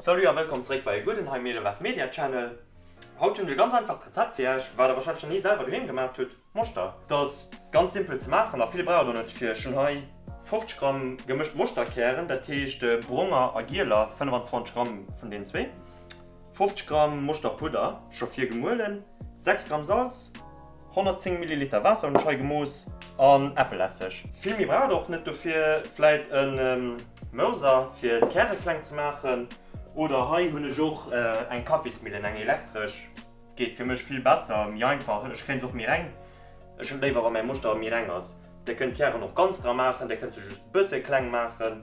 Salut a wëllkomm zeréck bei Gudenheim Medewerf Media Channel. Haut hunn ech e ganz einfacht Rezept fir iech, wat der wahrscheinlech nach ni selwer doheem gemaacht hutt, Moschter. Dat ass ganz simpel ze maachen a vill brauch der och net fir. Ech hunn hei 50 Gramm gemëscht Moschterkären, dat heescht bronger a gieler, 25 Gramm vun deenen zwee. 50 Gramm Moschterpudder, scho vir gemuelen, 6 Gramm Salz, 110 Milliliter Waasser hunn ech hei gemooss, an Äppelesseg. Vill méi braucht et och net. Dofir vläit e Mouser fir d'Käre kleng ze maachen. Oder hei hunn ech och eng Kaffismillen, eng elektresch, geet fir mech vill besser, méi einfach. Ech kréien se och méi reng. Ech hunn léiwer wa mäi Moschter méi reng ass. Dir kënnt d'Kären och ganz dra maachen, dir kënnt se just bësse kleng maachen,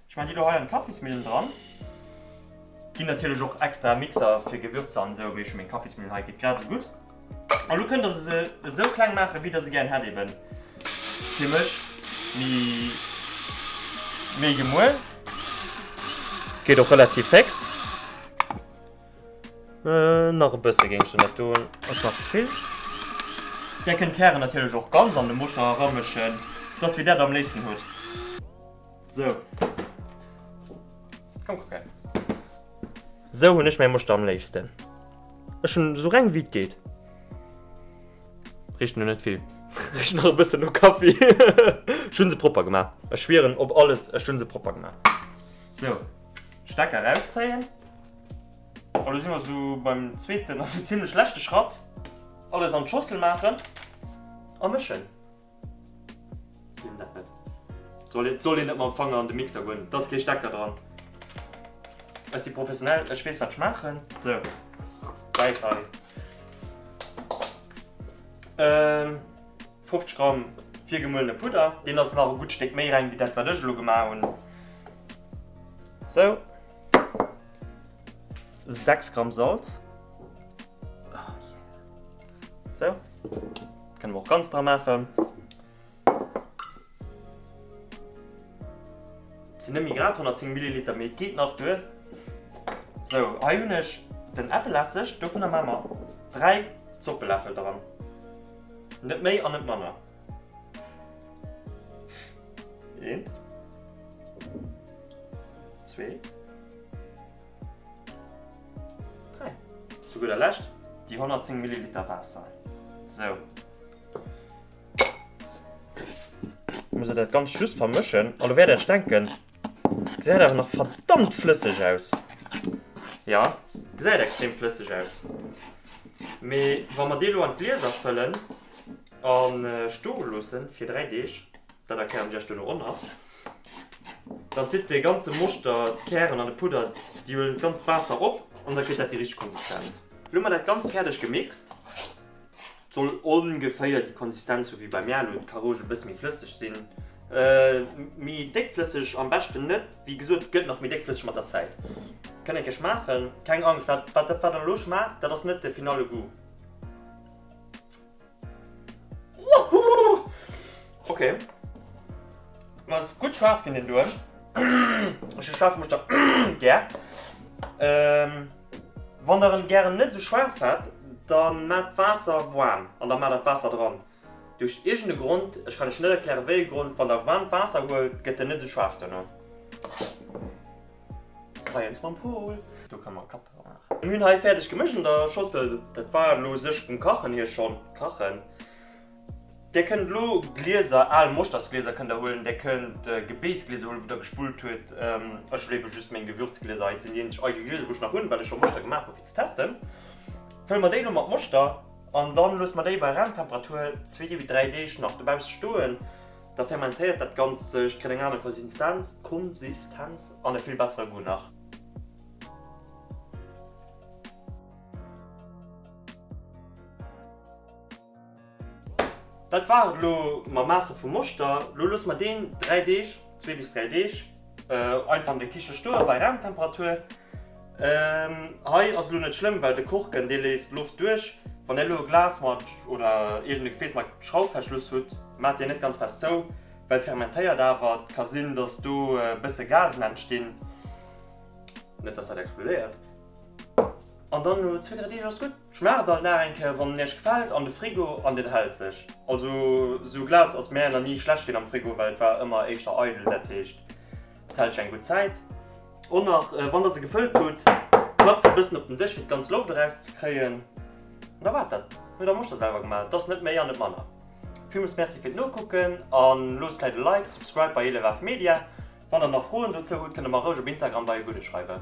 Ech man déi do hei an d'Kaffismillen dran. Gin natierlech och extra Mixer fir Gewürzer an esou, mee ech hun meng Kaffismillen hei, geet grad esou gudd. An lo kënnt der se esou kleng maachen wéi der se gären hätt, eben fir mech mi méi gemuel, geet och relativ féx. Nach e bësse géing ech der net doen, ass nach ze vill. Der kënnt d'Kären natierlech och ganz an de Moschter eramëschen, et ass wéi der et am léifsten huet. So. Komm kucken. Sou hunn ech mäi Moschter am léifsten. Ech hunn sou reng wéi et geet. Richt no net vill. Richt nach e bëssen no Kaffi. Ech hunn se propper gemaach. Ech schwieren op alles, ech hunn se propper gemaach. Sou. Stecker erauszéien. A lo si mer sou beim zweeten, also zimmlech leschte Schratt. Alles an d'Schossel maachen a mëschen. Nimm dat net. Et soll een net mam Fanger an de Mixer goen, et ass kee Stecker dran. Ech si professionell, ech weess wat ech maachen. Sou, Säit hei. 50 Gramm virgemuelene Pudder, deen ass nach e gutt Stéck méi reng wéi dat wat ech elo gemaach hunn. Sou. 6 Gramm Salz. Sou, kënne mer och ganz dra maachen. Et sinn nëmme grad 110 Milliliter, mee et geet nach duer. Sou, hei hunn ech den Äppelesseg, dovunner maache mer 3 Zoppeläffel dran. Net méi an net manner. Eent. Zwee. 3. Zu gudder Lescht déi 110 Milliliter Waasser. Sou. Ech muss dat ganz just vermëschen. An elo wäert Dir Iech denken, gesäit awer nach verdammt flësseg aus. Jo, gesäit extrem flësseg aus. Mee wa mer dee lo an d'Glieser fëllen a stoe loosse fir 3 Deeg, Dat erklären ech iech duerno och nach. Dann zitt de ganze Moschter, d'Kären an de Pudder d'Juel ganz besser op an da kritt dat déi richteg Konsistenz. Lo hu mer dat ganz fäerdeg gemixt. Soll ongeféier déi Konsistenz hu wéi bei mär elo, d'Caroge e bësse méi flësseg sinn. Méi déckflësseg am beschten net, wéi gesot gëtt nach méi déckflësseg mat der Zäit. Kënnt ee kech maachen, keng Angscht, wat dat wat een elo schmaacht, dat ass net de finale Goût. Ok. Ma ass gutt schaarf ginn deen doe. Ech hu schaarf Muster gär. Wann der en gären net esou schaarf hätt, dann maat d'Waasser waarm an dann maat dat Waasser dran. Duerch iergend e Grond, ech kann lech net erklären wéi e Grond, wann der waarmt Waasser huelt, gëtt en net esou schaarf duerno. Science mam Paul. Do kann mer Kapp dra maachen. Mir hunn hei fäerdeg gemëscht an der Schossel. Dat war elo u sech vum Kachen hier schonn kachen. Där kënnt elo Glieser, al Moschtersglieser kënnt der huelen. Där kënnt Gebéisglieser huelen, wou der gespullt huet. Ech huelen ebe just meng Gewürzglieser. Hei sinn déi eenzeg eidel Glieser, wou ech nach hunn, well ech scho Moschter gemaach hu fir ze testen. Fëlle mer déi elo mat Moschter an dann loosse mer déi bei Raumtemperatur zwee bis dräi Deeg nach dobausse stoen. Da fermentéiert dat Ganzt sech, kritt eng aner Konsistenz, Konsistenz, an e vill bessere Goût nach. Dat war et elo mam Maache vum Moschter. Lo loosse mer deen 3 Deeg, zwee bis dräi Deeg, Einfach an de Kiche stoe bei Raumtemperatur. Hei ass elo net schlëmm, well de Korken dee léisst Loft duerch. Wann Dir elo e Glas mat oder iergend e Gefääss mat Schrauffverschluss hutt, maacht deen net ganz fest zou, well et fermentéiert awer et ka sinn, datt do e bësse Gasen entstinn, net datt dat explodéiert, an dann no zwee, dräi Deeg ass et gutt. Schmaacht alt nach eng Kéier wann en iech gefällt an de Frigo an den hält sech. Also sou Glas ass mär nach ni schlecht gin am Frigo well et war ëmmer éischter eidel dat heescht et hält sech eng gutt Zäit. Och nach wann der se gefëllt hutt klappt se e bëssen op den Dësch fir d'ganz Loft eraus ze kréien an da waart dat. Huet am Muster selwer gemaach, et ass net méi an net manner. Villmools Merci fir d'Nokucken an loosst vläit e Like, Subscribe bei Elefaf Media. Wann der nach Froen dozou hutt kënnt der mer roueg op Instagram bei e Gudde schreiwen.